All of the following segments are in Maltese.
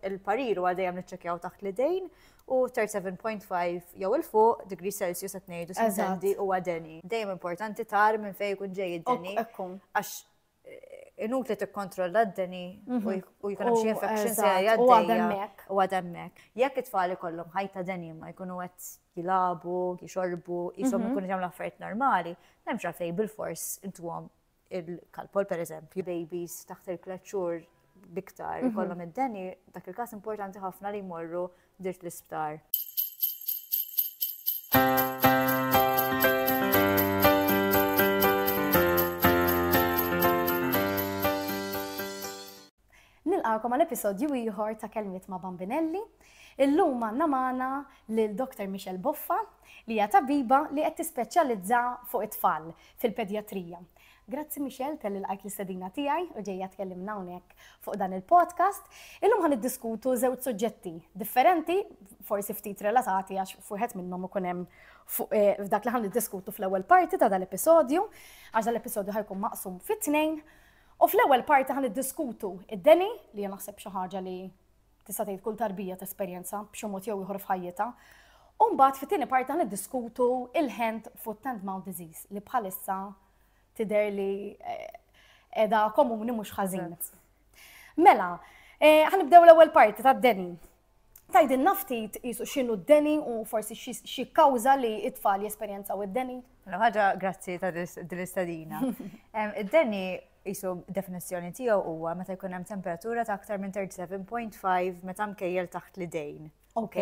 Il-parir huwa dejjem niċċekkjaw taħt l-idejn u 37.5 jew il fuq degree Celsius qed ngħidu sendi huwa deni. Dejjem importanti tar minn fejn ikun ġej id-deni. Għax eh, inut li tikkontrolla d-deni mhm. u jkun hemm xi infection se jgħaddejja u għademmek. Jekk it-tfal ikollhom ħajta deni ma jkunu qed jilabu, jixorbu, jisom mhm. ikunu jagħmlu affarijiet normali, m'hemmx għalfejn bil-fors intuhom il-kalpol per eżempju, babies taħt il-tlet xhur biktar mhm. ikollhom id-deni, dak il-każ importanti ħafna li jmorru dirt l-isptar. Nilqagħkom għal episodju ieħor ta' Kelmiet ma' Bambinelli. Illum għandna magħna lil Dr. Michelle Boffa li hija tabiba li qed tispeċjalizza fuq it-tfal fil-pedjatrija. Grazzi Michelle tal lqajt l-istedina tiegħi u ġejja tkellimna hawnhekk fuq dan il-podcast. Illum ħan iddiskutu żewġ suġġetti differenti, forsi ftit relatati għax fuħet minnhom ikun hemm eh, f'dak li ħan iddiskutu fl-ewwel parti ta' dal-episodju, għax dal-episodju ħajkun maqsum fit-tnejn. U fl-ewwel parti ħa niddiskutu id-deni li jien naħseb xi ħaġa li tista' tgħid kull tarbija tesperjenza b'xi mod jew ieħor f'ħajjitha. U mbagħad fit-tieni parti ħa niddiskutu il-hand foot and mouth disease li bħalissa tidher li qiegħda eh, komuni mhux ħażin. Mela, eh, ħanibdew l-ewwel parti tad-deni. Tgħidilna ftit qisu x'inhu d-deni u forsi xi kawża li t-tfal jesperjenzaw id-deni? Mela ħaġa grazzi ta' din l-istadina. Id-deni qisu definizzjoni tiegħu huwa meta jkun hemm temperatura ta' aktar minn 37.5 meta mkejjel taħt l-idejn. Ok.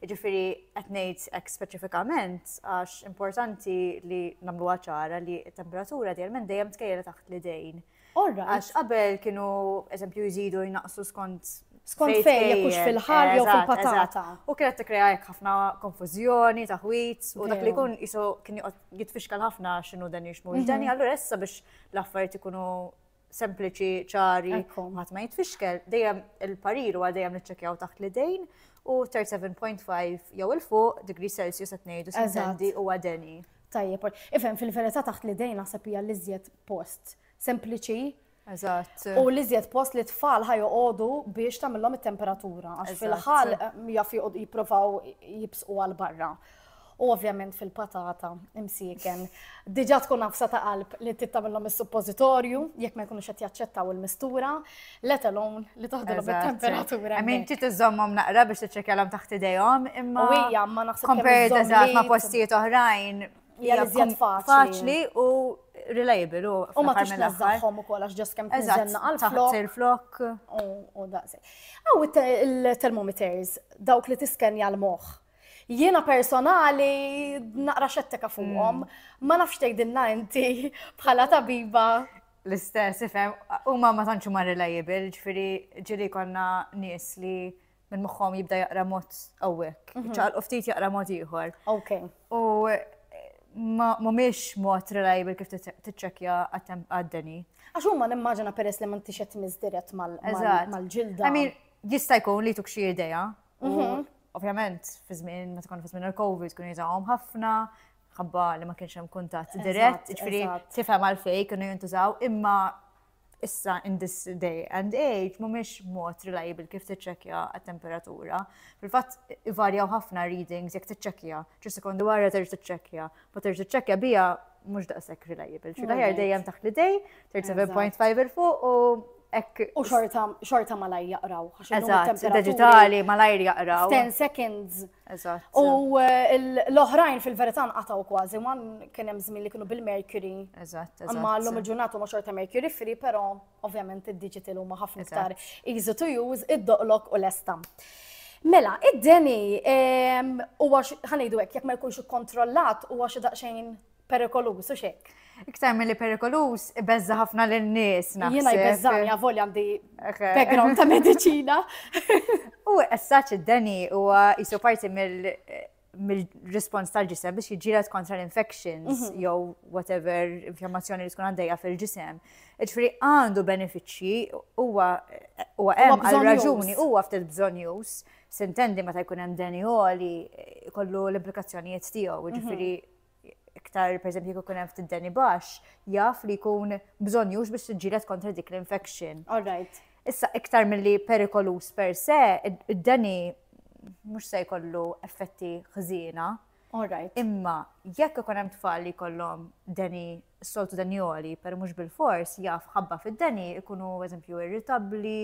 Ġifieri qed ngħid hekk speċifikament għax importanti li nagħmluha ċara li t-temperatura dejjem dejjem tkejjel taħt l-idejn. Orra. Għax qabel kienu, eżempju, jżidu jnaqsu skont skont fejn jekk hux fil-ħal jew fil-patata. U kienet tikkrea hekk ħafna konfużjoni, taħwit, u dak li jkun isu kien jitfixkal ħafna x'inhu dan jixmu. Mhm. Dani allura issa biex l-affarijiet ikunu sempliċi, ċari, ħadd ma jitfixkel, dejjem il-parir huwa dejjem niċċekjaw taħt l-idejn u 37.5 jew il-fuq degree Celsius qed ngħidu sendi huwa deni. Tajjeb, ol- ifhem fil-verità taħt l-idejn naħseb hija l-iżjed post sempliċi Eżatt. u l-iżjed post li tfal ħajoqogħdu biex tagħmilhom it-temperatura għax Eżatt. fil-ħal mm, jaf joqgħod- jippruvaw jibsqu għal barra. U ovvjament fil-patata imsieken. Diġà tkun nafsa ta' qalb li trid tagħmilhom is-suppożitorju jekk ma jkunux qed jaċċettaw il-mistura. let alone li toħdilhom it-temperatura. I mean, ti tiżommhom naqra biex tiċċekjalhom taħt idejhom, imma. U hija ma naħseb compared eżatt ma' postijiet oħrajn. Hija iżjed faċli u reliable u. U ma tix nażżaħħom ukoll għax ġost kemm tiżenna għal flok. il-flok. U daqsi. Aw il-termometers dawk li tiskenja l-moħħ. Jiena personali naqra xettika fuqhom, mm. ma nafx tgħidilna inti bħala tabiba L-istess, ifhem, huma ma tantx huma reliable, ġifieri ġieli konna nies li minn moħħhom jibda jaqra mod hawnhekk, mhm. ċaqalqu ftit jaqra mod ieħor. Ok. U mhumiex mod reliable kif tiċċekkja għad-deni. Għax huma nimmaġina peress li m'intix qed tmiss dirett mal-ġilda. Jista' jkun li tuk xi idea. Mhm. Ovvjament, fi żmien meta tkun fi żmien il-COVID kun jżgħuhom ħafna, ħabba li ma kienx hemm kuntatt dirett, ġifieri tifhem għalfejn kienu jintużaw, imma issa in this day and age mhumiex mod reliable kif tiċċekkja għat-temperatura. Fil-fatt ivarjaw ħafna readings jekk tiċċekkja, ġi sekondu wara terġa' tiċċekkja, ma terġa' tiċċekkja bija mhux daqshekk reliable. Xi daħjar dejjem taħt l-idej, 37.5 il fuq u Ek, u xorta, xorta malajr jaqraw. Eżatt, digitali malajr jaqraw. 10 seconds Eżatt. U eh, l-oħrajn fil-verità nqataw kważi, ma kien hemm żmien li kienu bil-Mercury. Eżatt, eżatt. Imma llum il-ġurnata ma xorta Mercury free, però ovvjament id-digital huma ħafna iktar easy to use, id-doqlok u l-esta. Mela, id-deni huwa ħanejdu hekk jekk ma jkunx ikkontrollat huwa xi daqsxejn perikoluż u xek. Iktar mill-li perikoluż, ibeżza ħafna l-nies. Jena jbeżżani għavol għandi background ta' medicina. U essaċ id-deni u jisu parti mill- mill-respons tal-ġisem biex jġilet kontra l-infections mhm. jew whatever inflammazzjoni li tkun għaddejja fil-ġisem. Ġifri għandu benefiċċji huwa huwa hemm għal raġuni huwa ftit bżonn jus sintendi meta jkun hemm deni għoli kollu l-implikazzjonijiet tiegħu, mhm. ġifri iktar per esempio jekk ikun hemm ftit deni baxx, jaf li jkun bżonjux biex tiġġieled kontra dik l-infection. All right. Issa iktar milli perikolus per se, id-deni mhux se jkollu effetti ħżiena. All right. Imma jekk ikun hemm tfal li jkollhom deni is-soltu denjoli, per mhux bil-fors jaf ħabba fid-deni ikunu eżempju irritabbli,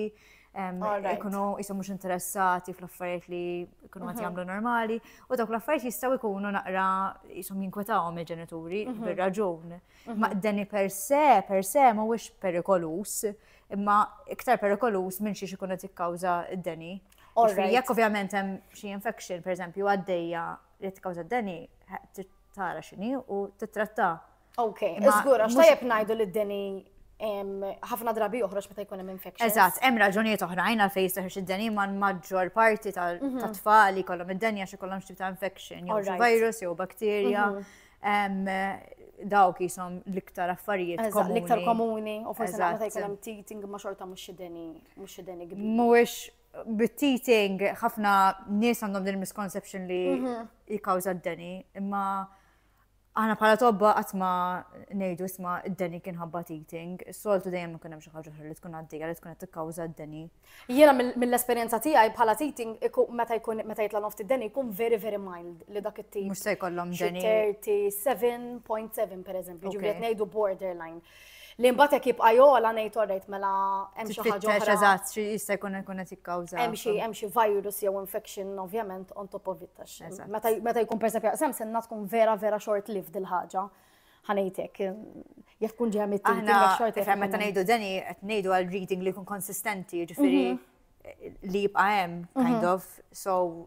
ikunu jisom mhux interessati fl-affarijiet li ikunu għati mhm. jagħmlu normali, u dawk l-affarijiet jistgħu jkunu naqra jisom jinkwetawhom il-ġenituri mhm. bir-raġun. Mhm. Ma deni per se, per se mhuwiex perikolus, imma iktar perikolus minn xiex ikun qed jikkawża d-deni. Jekk ovvjament hemm xi infection, pereżempju, għaddejja li tkawża d-deni, tara x'inhi u tittratta. Ok, żgur għax tajjeb ngħidu li d-deni ħafna drabi joħroġ meta jkun hemm infection. Eżatt, hemm raġunijiet oħrajn għal fejn jistaħħeġ id-deni ma' maġġor parti mhm. ta' tfal li kollhom id-deni għax ikollhom xi ta' infection, jew virus jew bakterja. Mhm. Dawk jisom l-iktar affarijiet komuni. L-iktar komuni, u forse meta jkun hemm teething ma' xorta mhux id-deni, mhux id-deni kbir. Mhuwiex bit-teething, ħafna nies għandhom din misconception li mhm. jikawza d-deni, imma għana bħala tobba għatma nejdu isma d-deni kien ħabba teething, soltu dejjem ikun hemm xi ħaġa li tkun għaddejja li tkun qed tikkawża d-deni. Jiena mill-esperjenza tiegħi bħala teething meta jkun meta jitla nofti d-deni jkun very very mild li dak it-tip. Mhux se jkollhom deni. 37.7 pereżempju, ġifieri ngħidu borderline. Li mbagħad hekk jibqa' jogħla ngħid orrejt mela hemm xi ħaġa Tfittex oħra. eżatt xi jista' jkun ikun qed jikkawża. Hemm xi hemm xi virus jew infection ovvjament on top of it għax Eżatt. meta meta jkun persef jaqsam senna tkun vera vera short lived il-ħaġa. Ħanejtek jekk tkun ġeja mit Aħna short ifhem meta ngħidu deni qed ngħidu għal reading li jkun konsistenti, jiġifieri li jibqa' hemm kind of, so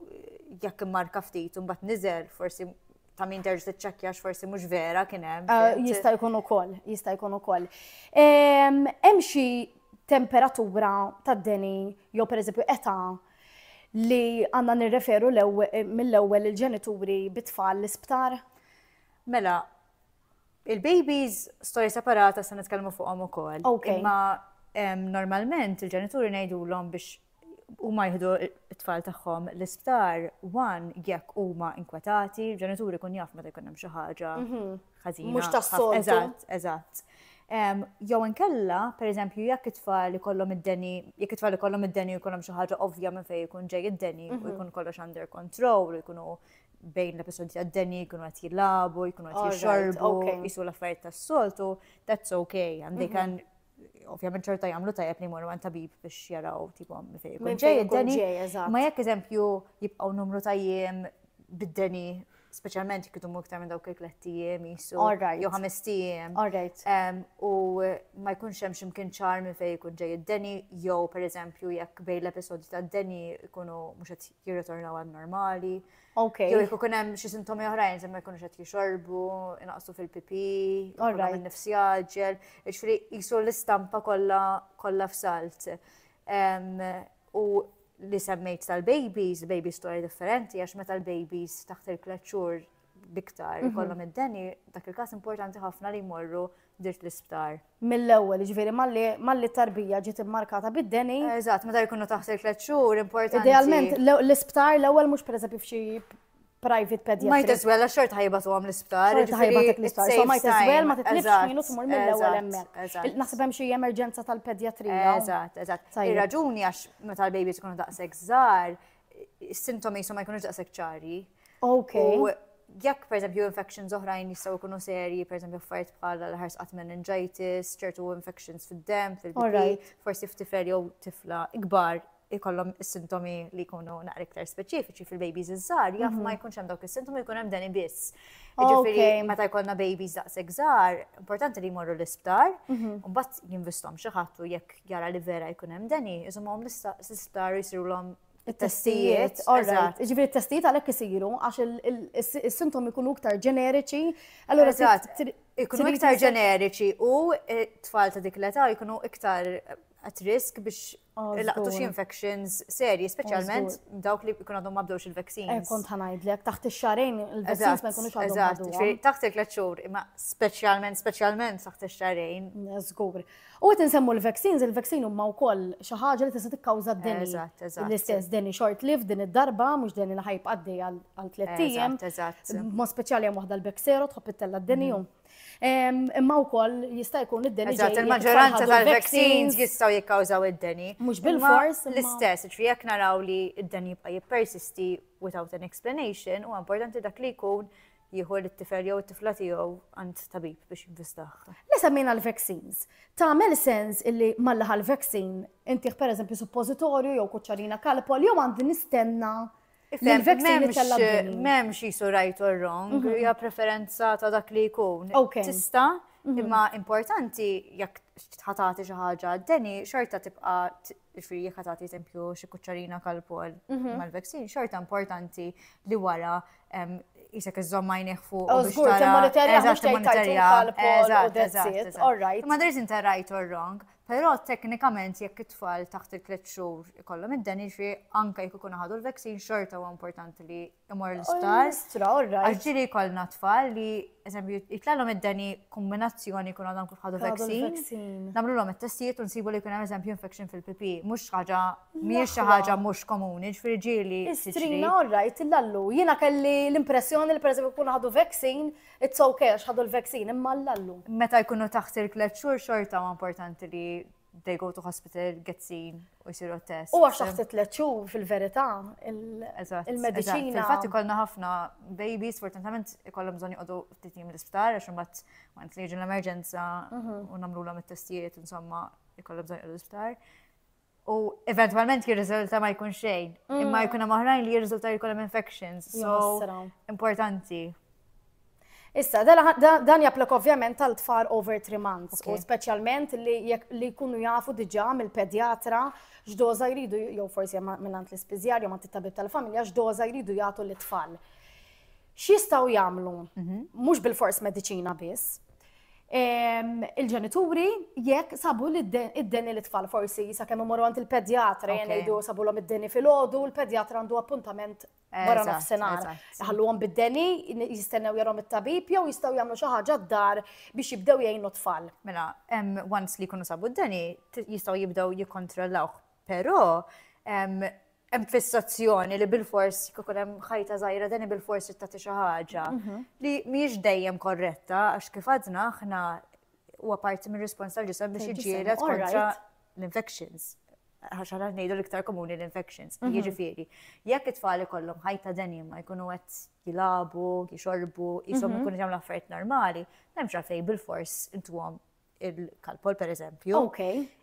jekk immarka ftit u mbagħad niżel forsi ta' min terġ tiċċekkja x'forsi mhux vera kien hemm. Ah, jista' jkun ukoll, jista' jkun ukoll. Ehm, hemm xi temperatura tad-deni jew pereżempju età li għandna nirreferu eh, mill-ewwel il-ġenituri bit-tfal l-isptar? Mela, il-babies storja separata se nitkellmu fuqhom ukoll. Imma ehm, normalment il-ġenituri ngħidulhom biex huma jieħdu t-tfal tagħhom l-isptar wan jekk huma inkwetati, ġenituri kun jaf meta jkun hemm xi ħaġa mhm. ħażina. Mhux tas-soltu. Eżatt, eżatt. Jew inkella, pereżempju, jekk it-tfal ikollhom id-deni, jekk it-tfal ikollhom id-deni jkollhom xi ħaġa ovvja minn fejn ikun ġej id-deni u mhm. jkun kollox under control u jkunu bejn l-episodji għad-deni jkunu għat jilabu, jkunu għat jixorbu, jisu l-affarijiet tas-soltu, that's okay, għandi mhm. kan ovvjament ċerta jagħmlu tajjeb li jmorru għand tabib biex jaraw tipo minn fejn ikun ġej id-deni. Ma jekk eżempju jibqgħu numru ta' jiem bid-deni speċjalment jekk idumu iktar minn dawk il-tlett ijiem jisu. Jew ħames ijiem. U ma jkunx hemm x'imkien ċar minn fejn ikun ġej id-deni jew pereżempju jekk bejn l-episodji tad-deni jkunu mhux qed jirritornaw għal normali. Okay. Jew jekk ikun hemm xi sintomi oħrajn se ma jkunux qed jixorbu, inaqsu fil-pipi, jkollhom in-nifs jaġġel, jiġifieri qisu l-istampa kollha kollha f'salt. U li semmejt tal-babies, baby story differenti, għax meta l-babies taħt il-kleċċur biktar mhm. kollhom id-deni, dak il-każ importanti ħafna li jmorru dirt l-isptar. Mill-ewwel, jiġifieri malli malli t-tarbija ġiet immarkata bid-deni. Eżatt, meta jkunu taħt il-tliet xhur importanti. Idealment, l- l-isptar l-ewwel mhux pereżempju f'xi private Might pediatric. as well, għax xorta ħajbatu għam l-isptar. Xorta jiġifieri ħajbatek it's l-isptar, so safe might as time. well ma titlifx Eżatt, minu tmur mill-ewwel eżatt, hemmhekk. eżatt. Il- Naħseb hemm xi emerġenza tal-pedjatrija. hawn. Eżatt, eżatt. Tajjeb. Ir-raġuni għax meta l-babies ikunu daqshekk żgħar, is-sintomi ma jkunux daqshekk ċari. Ok. U jekk per eżempju infections oħrajn jistgħu jkunu serji, per eżempju affarijiet bħal l-ħars qatt meningitis, ċertu infections fid-dem, fil-bri, forsi f'tifel jew tifla ikbar ikollhom is-sintomi li jkunu naqra iktar speċifiċi fil-babies iż-żgħar, jaf mhm. ma jkunx hemm dawk is-sintomi jkun hemm dan ibiss. Ġifieri meta jkollna babies daqshekk żgħar, importanti li jmorru l-isptar, mhm. u mbagħad jinvistom xi ħadd u jekk jara li vera jkun hemm deni, iżomhom l-isptar jisirulhom it-testijiet. Eżatt. Ġifieri t-testijiet għalhekk isiru għax is-sintomi jkunu iktar ġeneriċi. Allura eżatt. Ikunu iktar ġeneriċi u eh, tfal ta' dik l-età jkunu iktar at risk biex laqtu xi infections serji, speċjalment dawk li jkun għadhom ma bdewx il-vaccines. Eh, kont ħanajdlek, taħt ix-xarejn il-vaccines ma jkunux għadhom. Taħt il-tlet xhur, imma speċjalment, speċjalment taħt ix-xarejn. Żgur. U qed insemmu l-vaccines, il-vaccine huma wkoll xi ħaġa li tista' tikkawża d-deni. Eżatt, eżatt. L-istess deni short lived din id-darba, mhux deni li ħajb għaddej għal tliet ijiem. Eżatt, eżatt. Mod speċjali hemm waħda l-Bexero tħobb ittella' d-deni mhm. ehm, Imma wkoll jista' jkun id-deni. Eżatt, il-maġġoranza tal-vaccines jistgħu jikkawżaw id-deni. Mhux bil-fors. L-istess, ġifieri jekk naraw li id-deni jibqa' jippersisti without an explanation, huwa importanti dak li jkun jieħu lit-tifel jew it-tifla tiegħu għand tabib biex jinvestah. Li semmejna l-vaccines, tagħmel sens illi malli ħal vaccine intih pereżempju suppożitorju jew kuċċarina kalpol jew għandi nistenna Memx jisu right or wrong, mhm. hija preferenza ta' dak li jkun. Tista, mhm. imma importanti jekk tħatati xi ħaġa, deni xorta tibqa' Ġifri, jek għatati eżempju xie kuċċarina kal-pol mhm. mal-vaksin, xorta importanti li wara jisek iżżom majniħ fuq. U zgur, t-monitorja, t-monitorja. Ma darriz inta right or wrong, pero teknikament jekk it-tfal taħt il-tlet xhur ikollhom id-dan jiġri anke jekk ikun ħadu l-vaksin xorta huwa importanti li imur l-isptar. Stra, all right. Għaxġiri kolna tfal li, eżempju, jitlallom id-deni kombinazzjoni kun għadhom kif ħadu vaccine. Namlu l-om il-testijiet un sibu li kun eżempju infection fil-pipi. Mux ħaġa, miex ħaġa mux komuni, ġifiri ġili. Strina, all right, l-allu. Jina kelli l-impressjoni li per eżempju kun ħadu vaccine, it's okay, ħadu l-vaccine, imma l-allu. Meta jkunu taħt il-klet xur xorta ma importanti li they go to hospital, get seen, u jisiru test. U għax taħt tliet xhur fil-verità il-mediċina. Infatti kollna ħafna babies, fortunatament ikollhom bżonn joqogħdu ftit jiem l-isptar għax imbagħad ma li jiġu l-emerġenza mhm. u nagħmlulhom it-testijiet insomma ikollhom bżonn joqogħdu l-isptar. U eventualment jirriżulta ma jkun xejn, mm. imma jkun hemm oħrajn li jirriżulta jkollhom infections. So importanti. Issa, dan japplika ovvjament għal tfal over 3 months, u speċjalment li jkunu jafu diġà mill-pedjatra x'doża jridu, jew forsi minnant l-ispiżjar, jew mant it-tabib tal-familja, x'doża jridu jagħtu lit-tfal. X'jistgħu jagħmlu? Mhm. Mhux bil-fors mediċina biss. Il-ġenituri jekk sabu li id-deni li tfal forsi sakemm imorru għand il-pedjatra jgħidu sabu l-om id-deni fil-ħodu, il-pedjatra għandu appuntament wara nofsinhar. Ħalluhom bid-deni, jistennew jarhom it-tabib jew jistgħu jagħmlu xi ħaġa d-dar biex jibdew jgħinu tfal. Mela, hemm once li jkunu sabu d-deni, jistgħu jibdew jikkontrollawh. Però hemm fissazzjoni li bil-fors kikun hemm ħajta żgħira deni bil-fors tagħti xi ħaġa mhm. li mhijiex dejjem korretta għax kif għadna aħna huwa parti mir-respons tal-ġisem biex iġġieled kontra l-infections, għax għana ngħidu l-iktar komuni l-infections. Mhm. Jiġifieri, jekk it-tfal ikollhom ħajta ma jkunu qed jilabu, jixorbu, jisom mhm. ikunu jagħmlu affarijiet normali, m'hemmx għalfejn bil-fors intuhom il-kalpol per eżempju. Ok.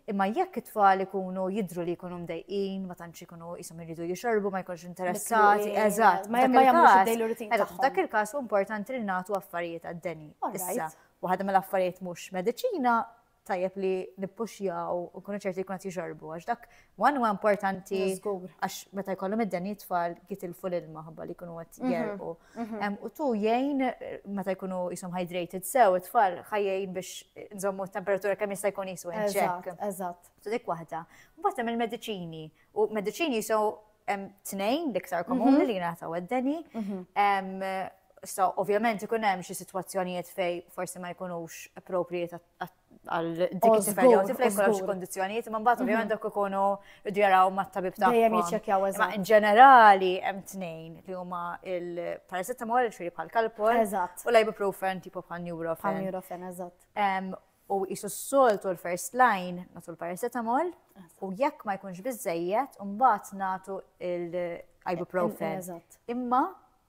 Imma jekk it-tfal ikunu jidru li jkunu mdejqin, ma tantx ikunu jisom iridu jixorbu, ma jkunx interessati, eżatt. Ma jagħmlux Dak il-każ importanti li nagħtu affarijiet għad-deni. Issa, waħda mill-affarijiet mhux mediċina tajjeb li nippuxjaw u nkunu ċerti jkun qed jixorbu għax dak one huwa importanti għax meta jkollhom id-deni tfal jitilfu l-ilma ħabba li jkunu qed mhm, jerqu. Mhm. U tu jgħin meta jkunu jisom hydrated sew it-tfal ħajjin biex nżommu temperatura kemm jista' jkun jisu inċek. Eżatt. Tu dik waħda. Mbagħad hemm il-mediċini u mediċini jisu Hemm tnejn l-iktar komuni li jingħataw għad-deni. So, ovvjament ikun hemm xi sitwazzjonijiet fej forsi ma jkunux appropriate għal dik it-tifel jew tifel jkollhom xi kondizzjonijiet, imma mbagħad ovvjament dak ikunu jdu jaraw mat-tabib tagħhom. Dejjem jiċċekkjaw eżatt. In ġenerali hemm tnejn li huma il-paracetamol, ġifieri bħal kalpol, u l-ibuprofen tipo bħal neurofen. Bħal neurofen, eżatt. u jisu s-soltu l-first line natu l-paracetamol u jekk ma jkunx bizzejiet mbagħad natu l-ibuprofen. Imma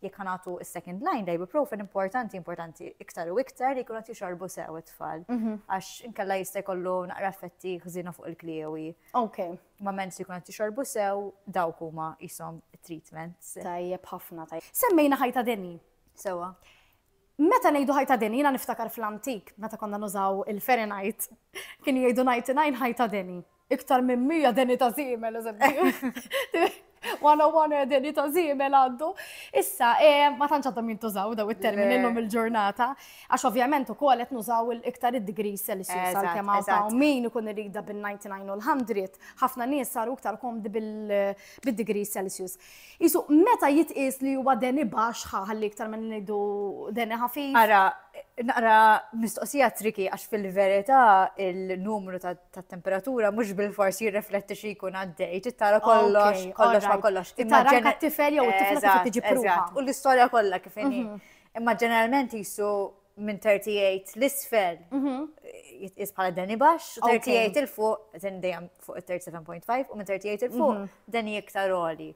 jekk natu s-second line l-ibuprofen importanti importanti iktar u iktar li kunat jixorbu sew it-tfal mhm. għax inkella jista' jkollu naqra effetti ħżina fuq il-kliewi. Ok. Ma mens li kunat jixorbu sew dawk huma jisom treatments. Tajjeb ħafna tajjeb. Semmejna ħajta deni. Sewa. Meta ngħidu ħajta deni, jiena niftakar fl-antik, meta konna nużaw il-Fahrenheit, kienu jgħidu 99 ħajta deni. Iktar minn 100 deni ta' żiemel, eżempju. 101 deni ta' żiemel għaddu. Issa, eh, ma tantx għadhom jintużaw daw it-termini llum il-ġurnata, għax ovvjament ukoll qed nużaw iktar id-degrees Celsius għalkemm hawn min ikun irida bin-99 u l-100, ħafna nies saru iktar komdi bil-degrees Celsius. Qisu, meta jitqies li huwa deni baxx, ħa ħalli iktar ma ngħidu deni ħafif. Ara, naqra mistoqsija triki għax fil-verità il-numru tat-temperatura mhux bil-fors jirrefletti xi jkun għaddej, trid tara kollox, kollox ma kollox. Tara anke t-tifel jew it-tifla kif tiġi pruva. U l-istorja kollha kif inhi. Imma ġeneralment qisu minn 38 l-isfel jitqis bħala deni baxx, u 38 il-fuq, zin dejjem fuq il-37.5, u minn 38 il-fuq deni iktar oli.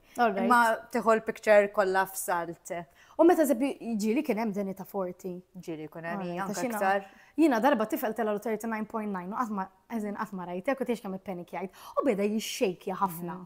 Ma tiħol picture kollha f'salt. U meta zebbi ġili kien hemm deni ta' 40. Ġili kun hemm hija iktar. Jina darba tifel tela 39.9 u għatma, għazin għatma rajtek u tiex kam il-penik jgħid. U beda jixxejkja ħafna.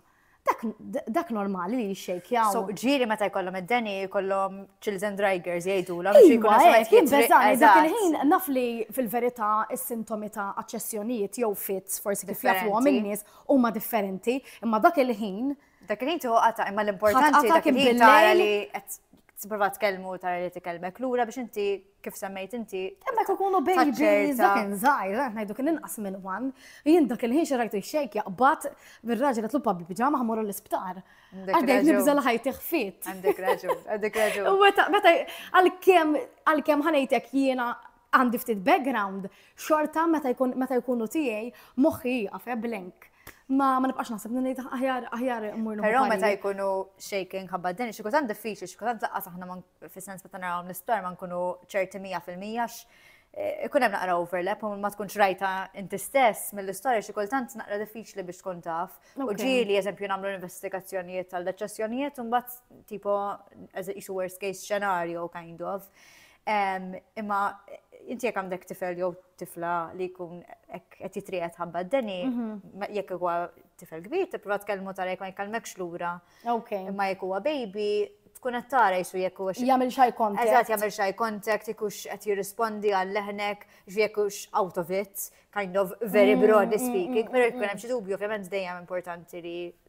Dak normali li jixxejkjaw. So, ġiri meta jkollhom id-deni, jkollhom children drivers jgħidu la biex jkun għaxħet jibbeżani. Dak il-ħin naf li fil-verità is-sintomi ta' aċċessjonijiet jew fits forsi kif jafu għom in-nies huma differenti, imma dak il-ħin. Dak il-ħin tuħu għata, imma l-importanti dak il-ħin tara li t-prova tkellmu tara li tkellmek lura biex inti kif semmejt inti. Imma ta' kunu babies, dak inżajr, għet najdu kien inqas minn wan, jien dak il-ħin xerajtu xejk jaqbat bir-raġel għatlu pabbi bġama ħamurru l-isptar. Għaddej nibżal ħajti xfit. Għandek raġun, għandek raġun. U meta għal-kem għal-kem ħanajtek jiena għandi ftit background, xorta meta jkunu tijaj moħi jgħafe eh, blenk. Ma ma nibqax naħseb li ngħid aħjar aħjar immur Però meta jkunu shaking ħabba din xi kultant diffiċli, xi kultant laqqas aħna fis-sens meta narawhom l-isptar ma nkunu ċerti mija fil-mija eh, ikun hemm naqra overlap u ma tkunx rajta inti stess mill-istorja xi kultant naqra diffiċli biex tkun taf. U ġieli eżempju nagħmlu investigazzjonijiet tal deċessjonijiet u mbagħad tipo isu worst case scenario kind of. Imma inti jekk għandek tifel jew tifla li jkun qed jitrijet ħabba d-deni, mhm. jekk huwa tifel kbir, tipprova tkellmu tara jekk ma jkellmekx lura. Imma jekk huwa baby, tkun qed tara jisu jekk huwa jagħmel xi contact. Eżatt jagħmel xi contact, ikux qed jirrispondi għal leħnek, jekk hux out of it, kind of very mm, broadly mm, speaking, mm, però jkun hemm xi dubju ovvjament dejjem importanti li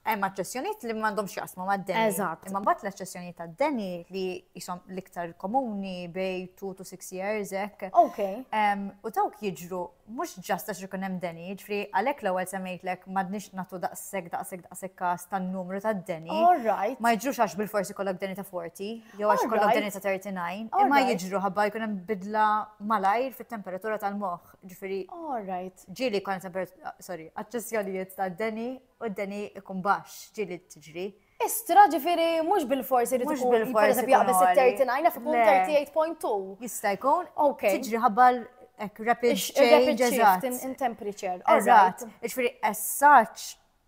Hemm aċċessjonijiet li m'għandhomx jaqsmu mad-deni. Eżatt. Imma mbagħad l-aċċessjonijiet tad-deni li jisom l-iktar komuni bej 2 to 6 years hekk. Ok. U dawk jiġru mhux ġast għax ikun hemm deni, ġifri għalhekk l-ewwel semmejtlek m'għadniex nagħtu daqshekk daqshekk daqshekk każ tan-numru tad-deni. All right. Ma jiġrux għax bil-forsi kollok deni ta' 40 jew għax kollok deni ta' 39, imma jiġru ħabba jkun hemm bidla malajr fit-temperatura tal-moħħ. Ġifieri. All right. Ġieli jkun sorry, aċċessjonijiet tad-deni u d-deni ikun baxx, ġieli tiġri. Istra, ġifieri mhux bilfors irid ikun pereżempju jaqbeż it-39 naf ikun 38.2. Jista' jkun. Okej. Tiġri ħabba hekk rapid change eżatt. In temperature. Eżatt. Ġifieri essaġġ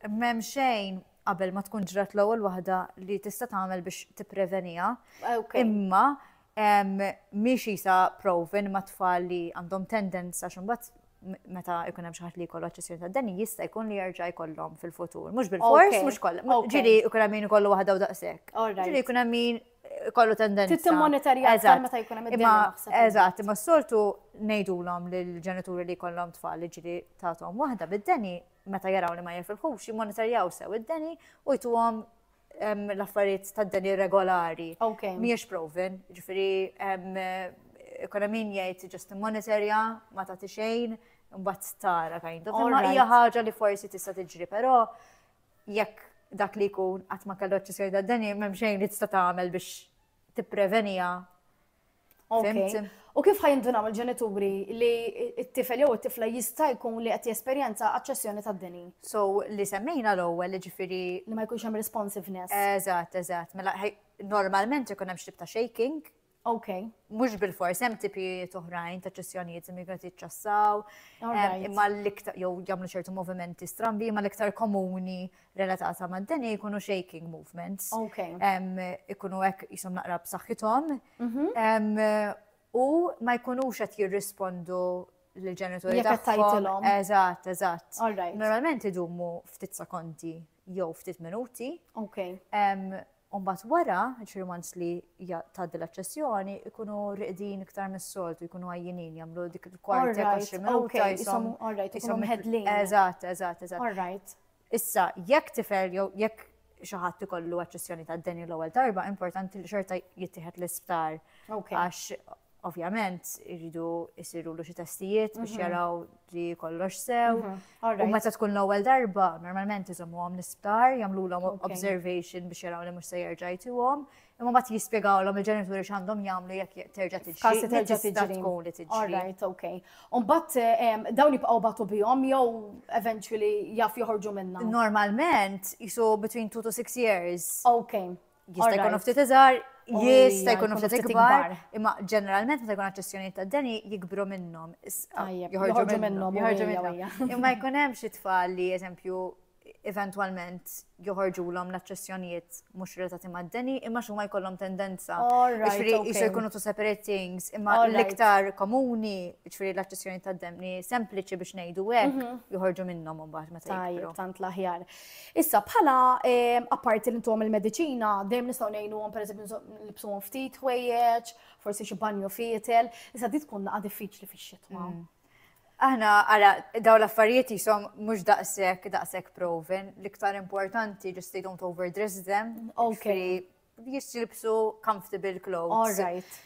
m'hemm xejn qabel ma tkun ġrat l-ewwel waħda li tista' tagħmel biex tippreveniha. Imma Mhix qisha proven ma' tfal li għandhom tendence għax imbagħad meta jkun hemm xi ħadd li jkollu aċċessjoni tad-deni jista' jkun li jerġa' jkollhom fil-futur. Mhux bil-fors, mhux kollha. Ġieli jkun hemm min ikollu waħda u daqshekk. Ġieli jkun hemm min ikollu tendenza. Trid timmonitorja aktar meta jkun hemm id-deni naħseb. Eżatt, imma s-soltu ngħidulhom lill-ġenituri li jkollhom tfal li ġieli tagħthom waħda bid-deni meta jaraw li ma jifilħux jimmonitorjaw sew id-deni u jtuhom l-affarijiet ta' dan irregolari. Miex proven, ġifiri, kuna min jgħid just monitorja, ma ta' xejn, mbagħad tara kind of. Ma hija ħaġa li forsi tista' tiġri, però jekk dak li jkun qatt ma kellu eċċessjoni ta' deni, m'hemm xejn li tista' tagħmel biex tipprevenija. Fimti. U kif ħajindunaw il-ġenituri li t-tifel jew it-tifla jista' jkun li qed jesperjenza aċċessjoni tad-deni? So li semmejna l-ewwel jiġifieri li ma jkunx hemm responsiveness. Eżatt, eżatt. Mela normalment ikun hemm xtib ta' shaking. Ok. Mhux bil-fors hemm tipijiet oħrajn ta' ċessjonijiet li migrant jiċċassaw. Imma l-iktar jew jagħmlu ċertu movimenti strambi, imma l-iktar komuni relatata ma' d-deni jkunu shaking movements. Ok. Ikunu hekk jisom naqra b'saħħithom. Mhm. U ma jkunux qed jirrispondu l-ġenituri tagħhom. Eżatt, eżatt. Normalment idumu ftit sekondi jew ftit minuti. Ok. U mbagħad wara, jiġifieri once li tgħaddi l-aċċessjoni, ikunu riqdin iktar mis-soltu, jkunu għajjinin, jagħmlu dik il-kwart ta' xi minuta jisom. Alright, jisom mħedlin. Eżatt, eżatt, eżatt. Alright. Issa, jekk tifel jew jekk xi ħadd ikollu aċċessjoni ta' deni l-ewwel darba, importanti li xorta jittieħed l-isptar. Għax Ovvjament, irridu jisirulu xi testijiet biex mhm. jaraw li kollox sew. Mhm. U meta tkun l-ewwel darba, normalment iżommu għom l-isptar, jamlu l observation biex jaraw li mhux se jerġa' jtuhom. Imma ma jispjegaw l il-ġenituri x'għandhom jagħmlu jekk terġa' tiġi. Kasi terġa' tiġi. tkun li tiġi. Alright, ok. U mbagħad eh, dawn jibqgħu batu bihom jew eventually jaf joħorġu minnha. Normalment isu between 2 to 6 years. Ok. Jista' jkunu ftit iżgħar, jista' jkunu ftit ikbar, imma ġeneralment meta jkun aċċessjonijiet ta' deni jikbru minnhom. Ah, joħorġu minnhom, joħorġu minnhom. Imma jkun hemm xi tfal li eżempju eventualment joħorġu l-om l-aċċessjonijiet mux relatati ma' d-deni, imma xumma jkollhom tendenza. Ġifri, jisu jkunu tu separate things, imma l-iktar komuni, ġifri l-aċċessjonijiet ta' d-deni sempliċi biex nejdu għek, mhm. joħorġu minnom un baħt ma' tajjeb. Tant laħjar. Issa bħala apparti li ntuhom il-mediċina, dejjem nistgħu ngħinuhom pereżempju nilbsuhom ftit ħwejjeġ, forsi xi banju fietel, issa di tkun naqa' diffiċli fix-xitwa. Mm. Aħna ara dawn l-affarijiet jisom mhux daqshekk daqshekk proven, l-iktar importanti just they don't overdress them. Okay. Jisilbsu comfortable clothes. All right.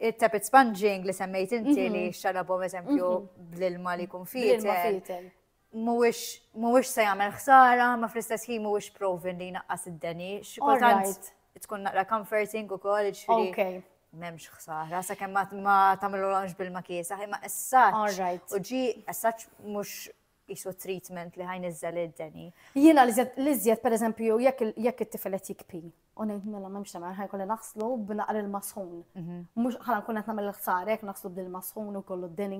Il-tapet sponging li semmejt inti mhm. li xalabhom eżempju mhm. bl-ilma li kun fitel. mhuwiex mhuwiex se jagħmel ħsara, ma fl-istess ħin mhuwiex proven li jnaqqas id-deni. Xi kultant tkun naqra comforting ukoll, ġifieri m'hemmx ħsara, sakemm ma tagħmilhomx bil makiesa imma essaċ. U ġi essaċ mhux jisu treatment li ħajn iżżel id-deni. Jiena li żjed per eżempju jekk it-tifel qed jikpi u ngħid mela m'hemmx tagħmel ħajn kolli naħslu b'naqra il-masħun. Mhm. Mhux ħala nkun qed nagħmel ħsara jekk naħslu bil-masħun u kollu d-deni.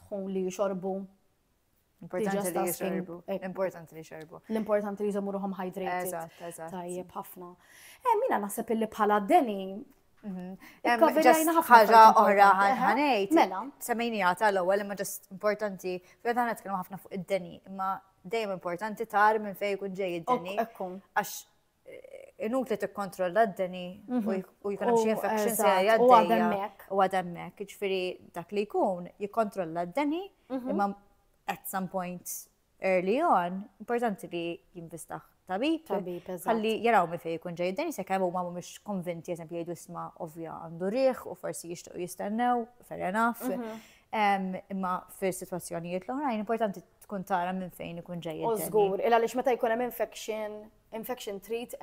dħun li jixorbu. Importanti li jixorbu. Importanti li jixorbu. L-importanti li jżommu ruħom hydrated. Eżatt, eżatt. Tajjeb ħafna. Eh, mina naħseb illi bħala deni ħaġa oħra ħanejt. Mela. Semmejnija tal-ewwel imma ġast importanti, fejn aħna nitkellmu ħafna fuq id-deni, imma dejjem importanti tar minn fejn ikun ġej id-deni. Għax inutli tikkontrolla d-deni mhm. u jkun hemm xi infection se jgħaddejja u għademmek. Ġifieri dak li jkun jikkontrolla d-deni mhm. imma at some point early on importanti li jinvistaħ tabib. Tabib, Għalli jaraw mi fej jkun ġej d-deni se kemm huma mhumiex konvinti eżempju jgħidu isma' ovvja għandu riħ u forsi jixtiequ jistennew, fair enough. Mhm. Imma fil-situazzjonijiet l-oħrajn, importanti tkun tara minn fejn ikun ġej. U żgur, il għaliex meta jkun hemm infection, infection treat,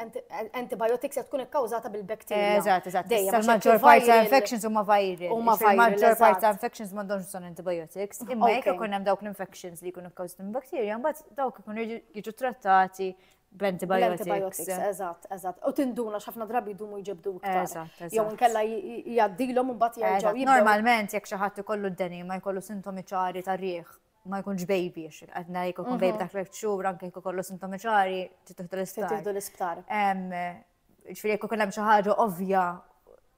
antibiotics qed tkun ikkawżata bil-bakterja. Eżatt, eżatt. Il-maġġor parti ta' infections huma viral. Huma viral. Il-maġġor parti ta' infections m'għandhomx bżonn antibiotics. Imma jekk ikun hemm dawk l-infections li jkunu kkawżati minn bakterja, mbagħad dawk ikunu jiġu trattati b'antibiotics. Eżatt, eżatt. U tinduna x'ħafna drabi jdumu jġibdu iktar. Eżatt, eżatt. Jew inkella jgħaddilhom u mbagħad jerġgħu jibdew. Normalment jekk xi ħadd ikollu d-deni ma jkollu sintomi ċari tar-riħ ma jkunx baby, għadna jek ikun baby mhm. ta' tliet xhur, anke jek kollu sintomi ċari, titħdu l-isptar. Titħdu l-isptar. Ġifieri jekk ikun hemm xi ħaġa ovvja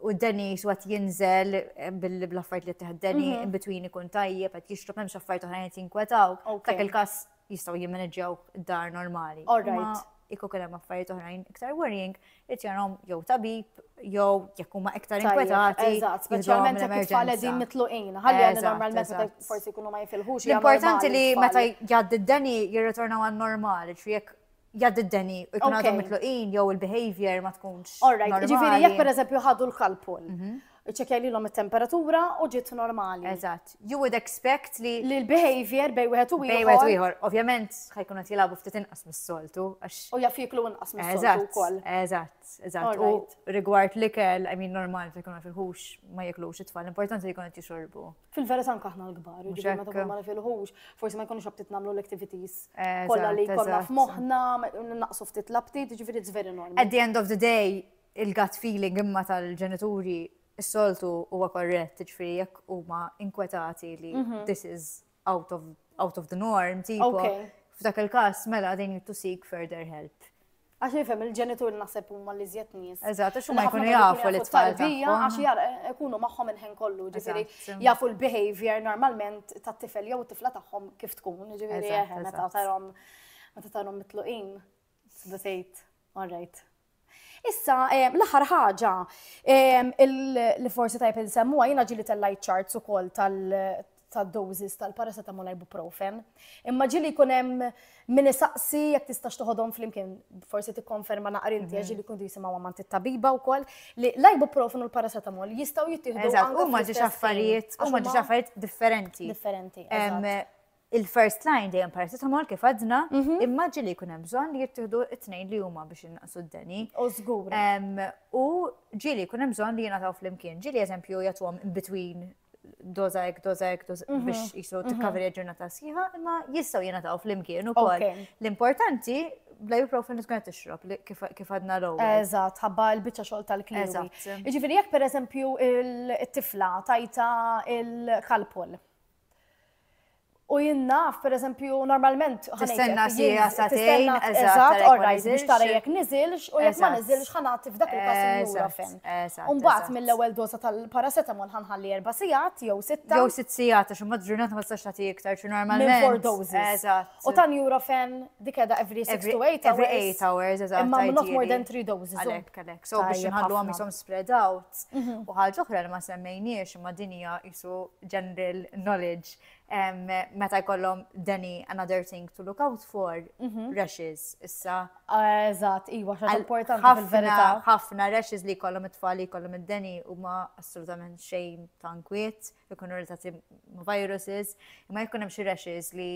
u d-deni xwat jinżel eh, bil-affajt li teħd deni mhm. in between ikun tajjeb, għat jixrob hemm xaffajt oħrajn qed jinkwetaw. Dak il-każ jistgħu jimmaneġġjaw dar normali. All right. Kieku kien hemm affarijiet oħrajn iktar worrying, irid jarhom jew tabib jew jekk huma iktar inkwetati. Eżatt, speċjalment jekk it-tfal qegħdin mitluqin. Ħalli għandi normalment meta forsi jkunu ma jifilħux. L-importanti li meta jgħaddi d-deni jirritorna għan normali, ġifieri jekk jgħaddi d-deni u jkun għadhom mitluqin jew il-behavior ma tkunx. Alright, ġifieri jekk pereżempju ħadu l-kalpol mhm. Iċċekjalilhom it-temperatura u ġiet normali. Eżatt. You would expect li li l-behavior bej wieħed u ieħor. Bej wieħed u ieħor. Ovvjament ħajkun qed jilagħbu ftit inqas mis-soltu għax. U jaf jiklu inqas mis-soltu wkoll. Eżatt, eżatt. U rigward l-ikel, I mean normal se jkun filħux ma jiklux it-tfal, importanti li jkun qed jixorbu. Fil-verità anke aħna l-kbar, jiġifieri meta tkun ma nifilħux, forsi ma jkunux abtit nagħmlu l-activities kollha li jkollna f'moħħna, naqsu ftit l-abtit, jiġifieri it's very normal. At the end of the day, il-gut feeling imma tal-ġenituri s-soltu huwa korrett, ġifieri jekk huma inkwetati li mhm. this is out of, out of the norm, tipo, f'dak il-każ mela they need to seek further help. Għax jifem il-ġenitur naħseb huma li zjed nies. Eżatt, għax huma jkunu jafu li tfal tarbija għax jar eh, ikunu magħhom il-ħin kollu, ġifieri jafu l-behavior normalment tat-tifel jew tifla tagħhom kif tkun, ġifieri eh, meta tarhom meta tarhom mitluqin. Tista' tgħid, all right. Issa, eh, l-aħħar ħaġa eh, li forsi tajb insemmuha jiena ġili tellajt charts ukoll tal ta' doses tal-paracetamol ibuprofen. Imma ġili jkun hemm min isaqsi jekk tistax toħodhom flimkien, forsi tikkonferma naqar inti mhm. ġili kun jisimgħu għamant it-tabiba wkoll li l-ibuprofen u l-paracetamol jistgħu jittieħdu. Eżatt, huma ġiex affarijiet, huma ġiex affarijiet differenti. Differenti. Il-first line dejjem paracetamol kif għadna, imma ġili jkun hemm bżonn li jittieħdu t-tnejn li huma biex innaqsu d-deni. U żgur. U ġili jkun hemm bżonn li jingħataw flimkien. Ġili eżempju jagħtuhom in between doza ek, doza ek, mhm. biex jisu mhm. t-kaveri ġurnata sħiħa, imma jistaw jena taw fl-imkien u kol. L-importanti, bla ibuprofen li tkun tixrob kif għadna l Eżat, ħabba l-bicċa xol tal-kliwi. Ġifiri, jek per eżempju il-tifla tajta il-kalpol. U jien naf, per eżempju, normalment. Tistenna si għasatejn, eżatt, or rajt biex tara jek nizilx, u jek ma nizilx ħanat f'dak il-kas il-jura fem. Umbat mill-ewel doza tal-paracetamol ħanħalli erba sijat, jew sitta. Jew sitt sijat, għax umbat ġurnat ma tistax tagħti iktar, xi normalment. Four doses. U tan jura fem dik edha every 6 to 8 hours. Every 8 hours, eżatt. Imma not more than 3 doses. Għalek, għalek. So biex nħallu għam jisom spread out. Arts. U ħaġa oħra li ma semmejniex imma din hija isu general knowledge meta jkollhom Danny another thing to look out for rashes issa. Eżatt, iwa xa importanti fil-verità. Ħafna rashes li jkollhom it-tfal li jkollhom id-Danny huma assolutament xejn ta' nkwiet, ikunu relatati ma' viruses, imma jkun hemm xi rashes li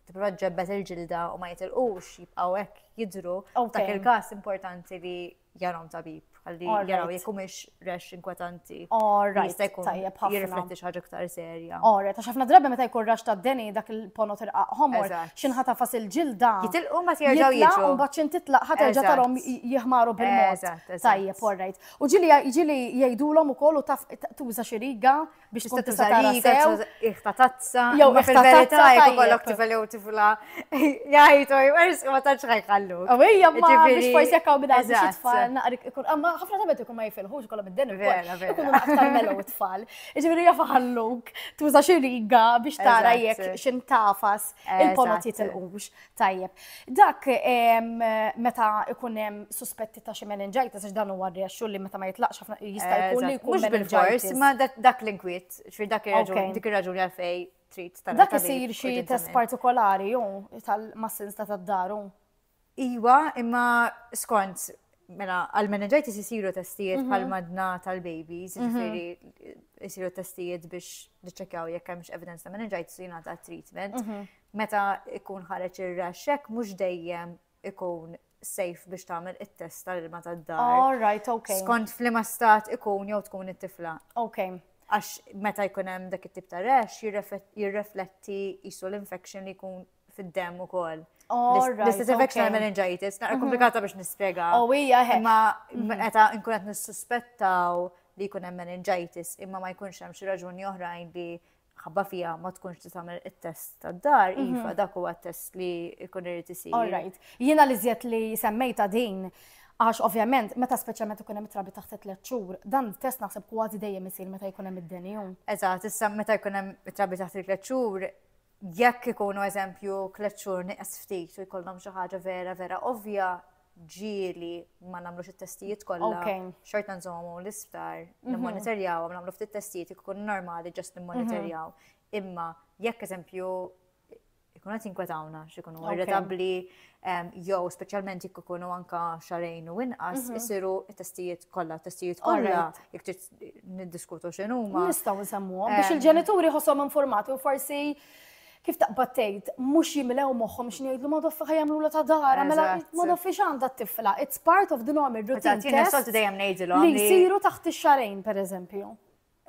tipprova ġebbet il-ġilda u ma jitilqux jibqgħu hekk jidru. Dak il-każ importanti li jarom tabib, għalli jaraw jek mux rex inkwetanti. Alright, tajjeb ħafna. Jirrifletti xaġa ktar serja. Alright, għax ħafna drabi meta jkun rax ta' deni dak il-pono tirqaq homor, xinħata fas il-ġilda. Jitilqu ma tjerġaw jiġu. Un baċin titlaq ħaterġa tarom jihmaru bil-mod. Tajjeb, alright. U ġili ġili jajdulom u kollu taf tuża xiriga. biex tkun tista' tara sew. Iħta tazza. Jew fil-verità jekk ikollok tifel jew tifla jgħid u jwers ma tantx ħajħallu. U hija ma biex forsi jekk hawn bidgħat biex tfal naqrik ikun amma ħafna tabet ikun ma jifilħux kollha mid-den ukoll. Ikunu aktar melu tfal. Iġifieri jafa ħalluk tuża xi riga biex tara jekk x'intafas il-ponot jitilqux. Tajjeb. Dak meta ikun hemm suspetti ta' xi meningitis għax dan huwa rrexxu li meta ma jitlaqx ħafna jista' eh, jkun li jkun bil-fors, ma dak l-inkwiet, xfir dak ir-raġuni, dik ir-raġuni għalfej trid tal Dak isir xi test partikolari jew tal-massins ta' tad-daru. Iwa, imma skont mela għal-meningitis isiru testijiet mhm. bħal madna tal-babies, mhm. ġifieri isiru testijiet biex niċċekjaw jekk hemmx evidence ta' meningitis u jingħata treatment. Mhm. Meta jkun ħareġ ir-rash hekk mhux dejjem ikun safe biex tagħmel it-test tal-ilma tad-dar. All right, okay. Skont f'liema stat ikun jew tkun it-tifla. Okay. Għax meta jkun hemm dak it-tip ta' rash jirrefletti jisu l-infection li jkun fid-dem ukoll. L-istess infection għal meningitis, naqra mhm. komplikata biex nispjega. Oh, hija Imma mhm. meta nkun qed nissuspettaw li jkun hemm meningitis imma ma jkunx hemm xi raġuni oħrajn li ħabba fija ma tkunx ti tagħmel it-test tad-dar, mhm. iva dak huwa t-test li jkun irid isir. All right. Jiena li żjed li semmejta din Għax ovvjament, meta speċjalment ikun hemm trabi taħt tliet xhur, dan test naħseb kważi dejjem isir meta jkun hemm id-denju. Eżatt, issa meta jkun hemm trabi taħt tliet xhur, jekk ikunu eżempju tliet xhur nieqes ftit u jkollhom xi ħaġa vera vera ovvja, ġieli ma nagħmlux it-testijiet kollha. Xorta nżommu l-isptar, mhm. nimmonitorjaw, nagħmlu ftit testijiet ikun normali ġast nimmonitorjaw. Mhm. Imma jekk eżempju ikun qed jinkwetawna x'ikunu irritabbli jew speċjalment jekk ikunu anka xarejn u inqas mhm. isiru t-testijiet kollha, testijiet kollha jekk trid niddiskutu x'inhuma. Nistgħu nsemmuhom biex il-ġenituri ħossom informati u forsi kif taqbad tgħid, mhux jimlew moħħhom x'ngħidlu ma doffi ħajamlu ta' dara, mela ma doffi x'għandha t-tifla. It's part of the normal routine. Tina soltu dejjem ngħidilhom. Li jsiru taħt ix-xarejn pereżempju.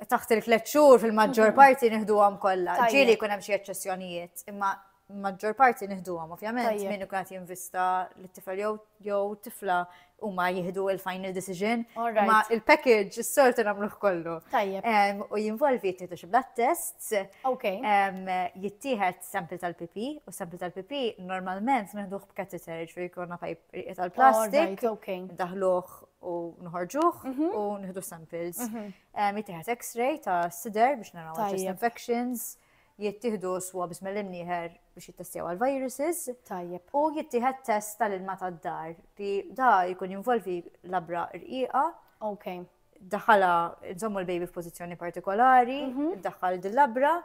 Taħt il-tliet xhur fil-maġġor parti nieħduhom kollha. Ġieli jkun hemm xi eċċessjonijiet, imma maġġor parti nieħduhom ovvjament min ikun qed jinvista lit-tifel jew tifla huma jieħdu il-final decision. Ma il-package is-sortu nagħmluh kollu. Tajjeb. U jinvolvi jittieħdu xi blood tests. Okay. Jittieħed sample tal-pipi u sample tal-pipi normalment nieħduh b'kateter ġifieri jkollna pajp tal-plastik. Okay. Daħluh u nħorġuh mhm. u nieħdu samples. Mhm. Jittieħed x-ray ta' sider biex naraw chest infections. Tajjeb. jittieħdu swabs mill-imnieħer biex jittestjaw għal viruses. Tajjeb. U jittieħed test tal-ilma tad-dar li da jkun jinvolvi labra rqiqa. Ok. Daħala nżommu l-baby f'pożizzjoni partikolari, mhm. daħal dil-labra,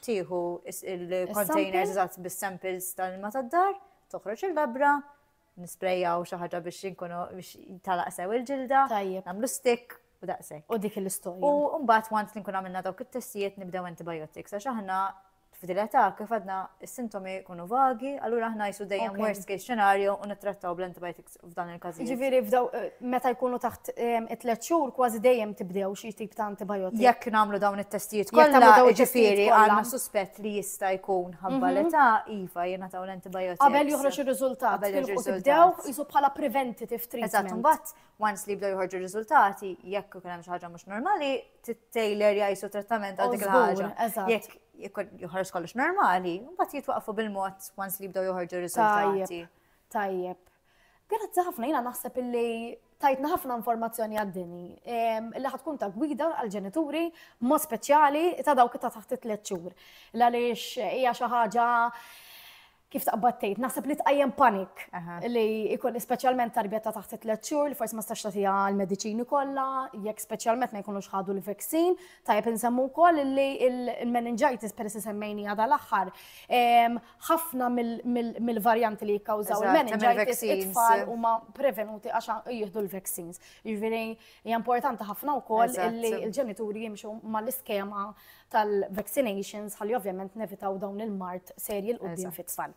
tieħu il-containers eżatt bis-samples tal-ilma tad-dar, toħroġ il-labra, Nisprejjaw xi ħaġa biex inkunu biex talaq sew il-ġilda. Tajjeb. Nagħmlu stick u daqshekk. U dik l-istorja. U mbagħad once li nkun għamilna dawk it-testijiet nibdew antibiotics għax aħna f'din l-età kif għadna s-sintomi jkunu vagi, allura aħna jsu dejjem Ok. worst case scenario u nittrattaw bl-antibiotics f'dan il-każijiet. Jiġifieri f'daw eh, meta jkunu taħt em, it-tliet xhur kważi dejjem tibdew xi tip ta' antibiotic. Jekk nagħmlu dawn it-testijiet Jekk kollha, nagħmlu dawn it-testijiet ġifieri kollha. Mhm. għandna suspett li jista' jkun ħabba l-età, iva jingħataw l-antibiotics. Qabel joħroġ ir-riżultat. Qabel joħroġ ir-riżultat. Tibdew jisu bħala preventative treatment. Eżatt, imbagħad once li jibdew joħorġu r-riżultati, jekk ikun hemm xi ħaġa mhux normali, tittejler jgħisu trattament għal dik il-ħaġa. Jekk joħroġ kollox normali, mbagħad jitwaqfu bil-mod once li jibdew joħorġu r-riżultati. Tajjeb. Grazzi ħafna, jina naħseb illi tajtna ħafna informazzjoni għaddini li ħatkun ta' gwida għal-ġenituri mo speċjali ta' dawk ta' taħt it-tlet xhur. Għaliex hija xi ħaġa kif taqbattejt, naħseb li tqajjem panik li ikun speċjalment tarbija ta' taħt it-tlet xhur li forsi ma stax tagħtiha l-mediċini kollha, jekk speċjalment ma jkunux ħadu l-vaksin, tajjeb insemmu wkoll li l-meningitis peress semmejni għadha l-aħħar ħafna mill-varjanti li jikkawżaw il-meningitis it-tfal huma prevenuti għax jieħdu l-vaccines. Jiġifieri hija importanti ħafna wkoll li l-ġenituri jimxu mal-iskema tal-vaccinations ħalli ovvjament nevitaw dawn il-mart serji l-qudiem fit-tfal.